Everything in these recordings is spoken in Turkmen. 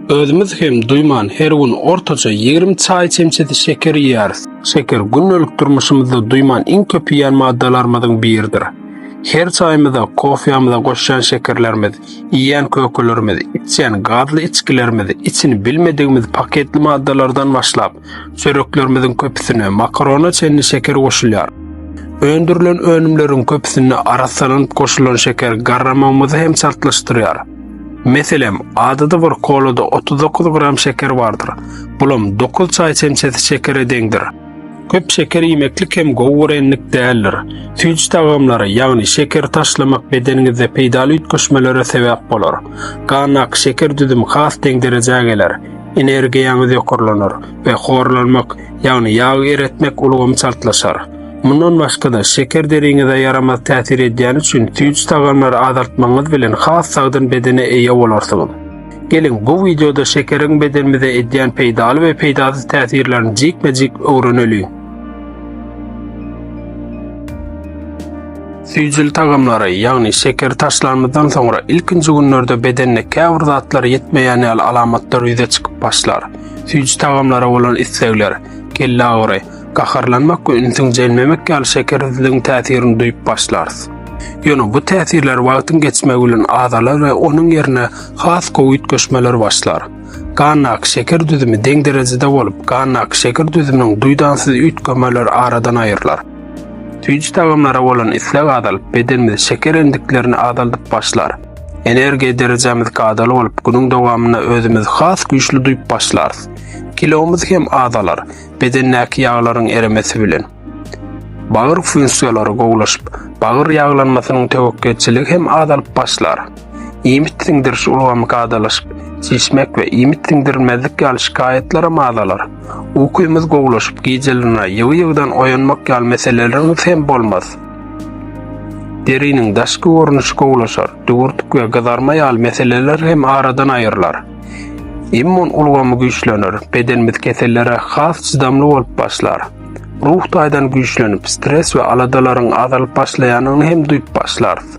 Özümiz hem duýman her gün ortaça ýigrimi çaý çemçesi şeker iýýäris. Şeker gündelik durmuşymyzda duýman iň köp iýen maddalarymyzyň biridir. Her çaýymyza, kofýamyza goşýan şekerlerimiz, iýýän kökelerimiz, içýän gazly içgilerimiz, içini bilmedigimiz paketli maddalardan başlap, Çöreklerimiziň köpüsine makarona çenli şeker goşulýar. Öndürilen önümleriň köpüsinde arassalanyp goşulan şeker garramagymyzy hem çaltlaşdyrýar. Meselem, adaty bir kolada 39 gram şeker bardyr, bulam dokuz çaý çemçesi şekere deňdir. Köp şeker iýmeklik hem gowy görenlik däldir. Süýji tagamlara, ýagny şekeri taşlamak bedeniňizde peýdaly üýtgeşmelere sebäp bolar. Gandaky şeker düzümi has deň derejä geler. energiýaňyz ýokarlanar we horlanmak, ýagny ýag eretmek ulgamy çaltlaşar. Mundan başga-da, şeker deriňize ýaramaz täsir edýäni üçin süýji tagamlary azaltmagyňyz bilen has sagdyn bedene eýe bolarsyňyz. Geliň, bu wideoda şekeriň bedenimize edýän peýdaly we peýdasyz täsirlerini jikme-jik öwreneliň. Süýjüli tagamlary, ýagny şekeri taşlanymyzdan soňra ilkinji günlerde bedende käbir zatlar ýetmeýän ýaly alamatlar ýüze çykyp başlar. Süýji tagamlara bolan islegler, kelle agyry, gaharlanmak we ünsüň jelmemek ýaly şekersizligiň täsirini duýup başlarys. Ýöne bu täsirler wagtyň geçmegi bilen azalar we onuň ýerine has gowy üýtgeşmeler başlar. Gandaky şeker düzümi deň derejede bolup, gandaky şeker düzüminiň duýdansyz üýtgemeleri aradan aýrylar. Süýji tagamlara bolan isleg azalyp, bedenimiz şeker endiklerini azaldyp başlar. Energiýa derejämiz kadaly bolup, günüň dowamynda özümizi has güýçli duýup başlarys. Kilomyz hem azalar, bedendäki ýaglaryň eremesi bilen. Bagyr funksiýalary gowulaşyp, bagyr ýaglanmasynyň töwekgelçiligi hem azalyp başlar. Iýmit siňdiriş ulgamy kadalaşyp, çişmek we iýmit siňdirilmezlik ýaly şikaýatlaram azalar. Ukyňyz gowlaşyp, gijelerine ýygy-ýygydan oýanmak ýaly meseleleriňiz hem bolmaz. Deriniň daşky görnüşi gowlaşar, düwürtik we gyzarma ýaly meseleler hem aradan aýrylar. Immun ulgamy güýçlener, bedenimiz kesellere has çydamly bolup başlar. Ruh taýdan güýçlenip, stres we aladalaryň azalyp başlaýanyny hem duýup başlarys.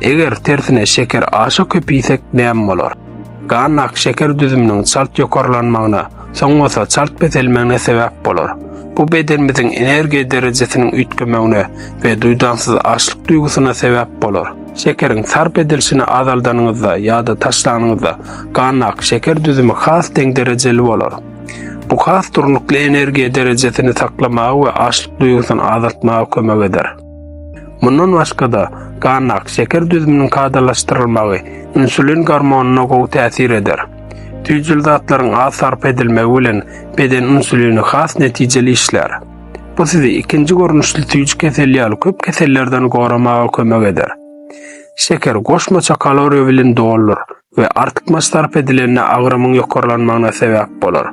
Eger tersine şeker aşa köp iýsek näme bolar? Gannak şeker düzüminiň çalt ýokarlanmagyna, soň bolsa çalt peselmegine sebäp bolar. Bu bedenimiziň energiýa derejesiniň üýtgemegine we duýdansyz açlyk duýgusyna sebäp bolar. Şekeriň sarp edilişini azaldanyňyzda ýa-da taşlanyňyzda, gannak şeker düzümi has deň derejeli bolar. Bu has durnukly energiýa derejesini saklamaga we açlyk duýgusyny azaltmaga kömek eder. Mundan başga-da, gandak şeker düzüminiň kadalaşdyrylmagy insulin gormonyna gowy täsir eder. Tüýjül zatlaryň az sarp edilmegi bilen beden insulini has netijeli işlär. Bu sizi ikinji görnüşli tüýjü keseli ýaly köp kesellerden goramaga kömek eder. Şeker goşmaça kaloriýa bilen doludyr. we artykmaç sarp edilende agramyň ýokarlanmagyna sebäp bolar.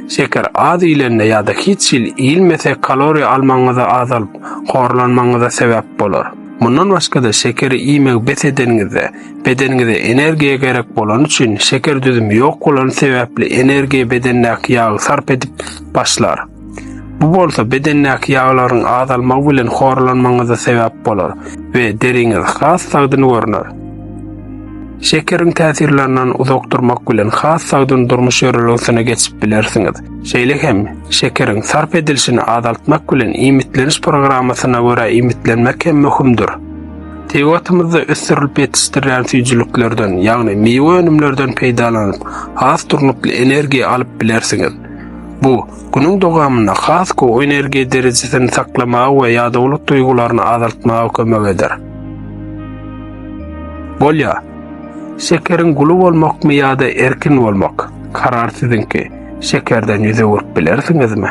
Şeker az iýlende ýa-da hiç hil iýilmese kaloriýa almagyňyzy azalyp, horlanmagyňyza sebäp bolar. Mundan başga-da şekeri iýmegi bes edeniňizde, bedeniňize energiýa gerek bolany üçin şeker düzümi ýok bolany sebäpli energiýa bedendäki ýagy sarp edip başlar. Bu bolsa bedendäki ýaglaryň azalmagy bilen horlanmagyňyza sebäp bolar we deriňiz has sagdyn görner. Şekeriň täsirlerinden uzak durmak bilen has sagdyn durmuş ýörelgesine geçip bilersiňiz. Şeýle hem şekeriň sarp edilişini azaltmak bilen iýmitleniş programmasyna görä iýmitlenmek hem möhümdir. Tebigatymyzda ösdürilip ýetişdirilýän süýjüliklerden, ýagny miwe önümlerden peýdalanyp, has durnukly energiýa alyp bilersiňiz. Bu, günüň dowamynda has gowy energiýa derejesini saklamaga we ýadawlyk duýgularyny azaltmaga kömek eder. Bolýar. Şekeriň guly bolmakmy ýa-da erkin bolmak? Karar siziňki. Şekerden ýüz öwürip bilersiňizmi?